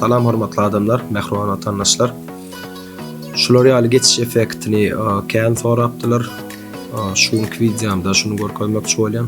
Salam hormatly adamlar, mähriban watandaşlar. Şular ýaly geçiş effektini kän sorapdylar. Şu günki wideomda şuny görkezmekçi bolýan.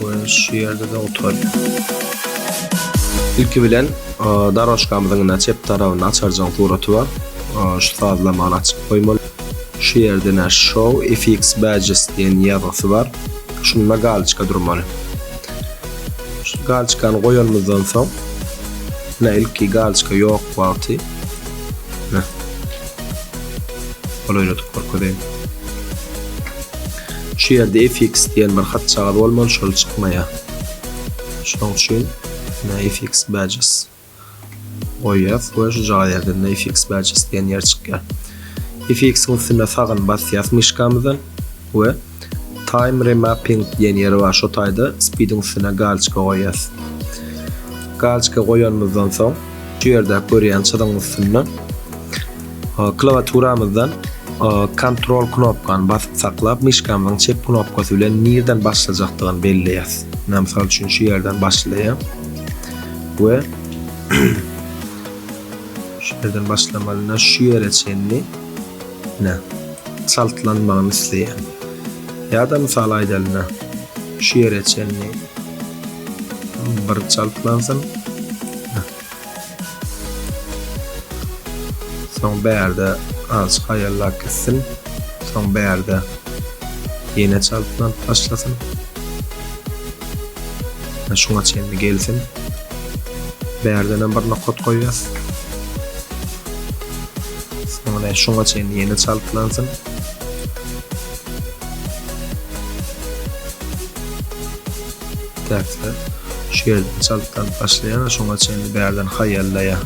Goýun şu ýerde-de oturýar. Ilki bilen darožkamyzyň ine çep tarapynda açarjyň suraty bar. Şu sazlamany açyp goýmaly. Şu ýerde ine Show FX Badges diýen ýazgysy bar. Şunda galiçka durmaly. Şu galiçkany goýanymyzdan soň, ine ilki galiçka ýok wagty. Golaýladyp görkezeýin. Şu ýerde fx diýen bir hatjagaz bolmaly şol çykmaýar. Şonuň üçin ine fx badges goýýas we şujagaz ýerden fx badges diýen ýer çykýar. Fx-iň üstüne sagyn basýas myşkamyzdan we Time remapping diýen ýeri bar, şo taýda speediň üstüne galiçka goýýas. Galiçka goýanymyzdan soň, şu ýerdäki görýän çyzygyň üstünde klawiaturamyzdan kontrol knopkany basyp saklap, myşkamyzyň çep knopkasy bilen nirden başlajakdygyny belleýäs. Men mysal üçin şu ýerden başlaýan we şu ýerden başlamalyna şu ýere çenli Nä? Çaltlanmagyny isleýän. Ýa-da mysal aýdalyna, şu ýere çenli bir çaltlansyn. Nä? Soň bärde azajyk haýallap gitsin. Soň bärde ýene çaltlanyp başlasyn. Nä şuňa çenli gelsin. Bärdenem bir nokat goýýas. Soňra şuňa çenli ýene çalyklansyn. Täze şu ýerden çalyklanyp başlaýar, şuňa çenli bärden haýallaýar.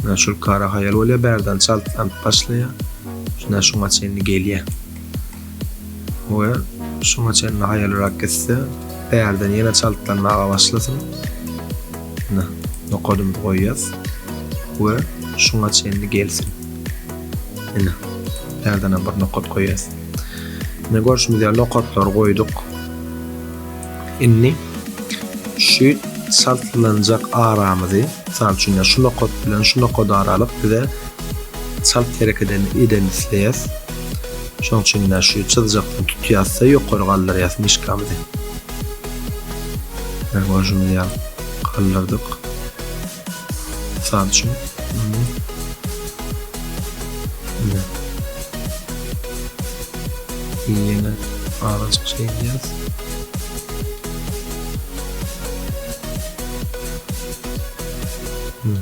Şuna şul kara haýal bolýar, bärden çalyklanyp başlaýar. Şuna şuňa çenli gelýär. we şuňa çenli haýalrak gitse, bärden ýene çaltlanmaga başlasyn. Ine, nokadymyzy goýýas we şuňa çenli gelsin. Ine, bärden bir nokat goýýas. Ine, görşümiz ýaly nokatlary goýduk. Indi şu çaltlanjak aramyzy, mysal üçin, şu nokat bilen şu nokat aralyk bize çalt hereket edeni isleýäs. Şoň üçin-de şu çyzjakdan tutýas-da ýokary galdyrýas myşkamyzy. Ine görşümiz ýaly galdyrdyk. Mysal üçin, muny ine we ýene azajyk şeýdýäs. Ine.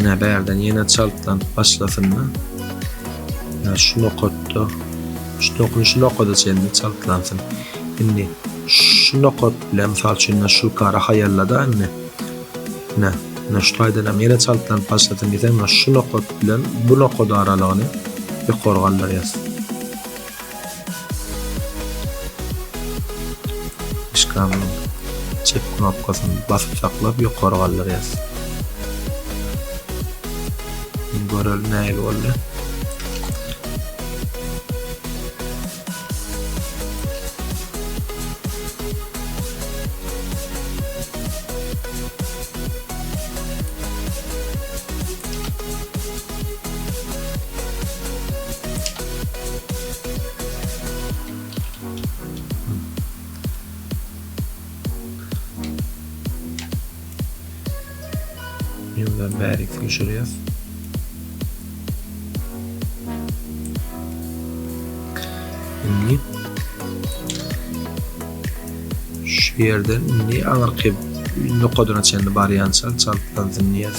Ine bärden ýene çaltlanyp başlasynda. Ine şu nokatda şu dokun şu nokada çenli çaltlansyn. Indi şu nokat bilen mysal üçin şu kara haýallada indi. Ine, ine şu taýdan hem ýene çaltlanyp başlasyn diýseň, şu nokat bilen bu nokat aralygyny ýokary galdyrýas. Myşkamyň çep knopkasyny basyp saklap ýokary galdyrýas. Indi görelim nähili boldy. Ýylan bärik süýşürýär. Indi şu ýerden indi aňyrky nokadyna çenli barýança çaltdan synýas.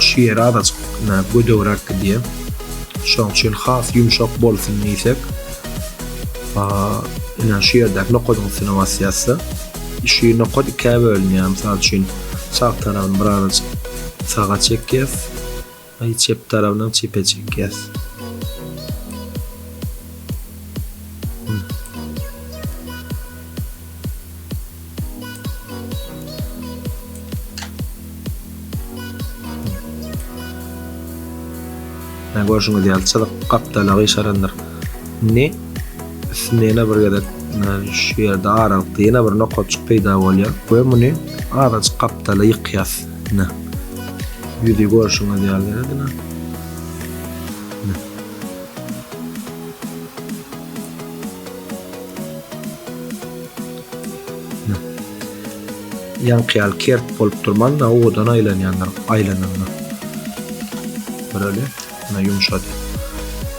Şu ýeri azajyk gödegräk gidýär. Şonuň üçin has ýumşak bolsun diýsek, ine şu ýerdäki nokadyň üstüne basýas-da, şu nokat ikä bölünýär. Mysal üçin, sag tarabyny bir azajyk saga çekýäs, çep tarabynam çepe çekýäs. Hä görşüňiz ýaly çyzyk gapdala gyşarandyr. Indi üstünde ýene bir gezek şu ýerde aralykda ýene bir nokatjyk peýda bolýar we muny azajyk gapdala ýykýas. Ine. Ýüzi görşüňiz ýaly ine. Ýaňky ýaly kert bolup durman-da, owadan aýlanýandyr, aýlananda. Göreli, ýene ýumşady.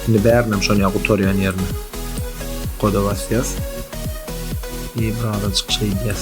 Indi bärinem şony ýa gutarýan ýerine koda basýas. I birazajyk şeýdýäs.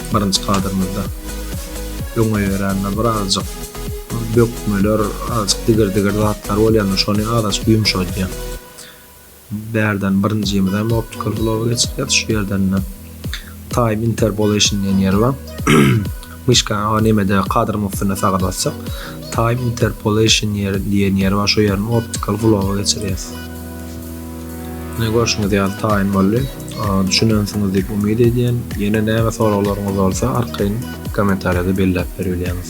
Birinji kadrymyzda öňe ýörände birazjyk bökmeler azjyk digir digir zatlar bolýanda şony azajyk ýumşadýan. Bärden birinjimiz hem optical glow geçirýär şu ýerdende time interpolation diýen ýeri bar. Myşka o nemede kadryň üstüne sagal basjak time interpolation ýeri diýen ýeri bar şu ýerini optical glow geçirýär. Ine görşüňiz ýaly taýyn boldy. Düşünensiňiz diýip umyt edýän. Ýene näme soraglaryňyz bolsa arkaýyn kommentariýada belläp beribilýäňiz.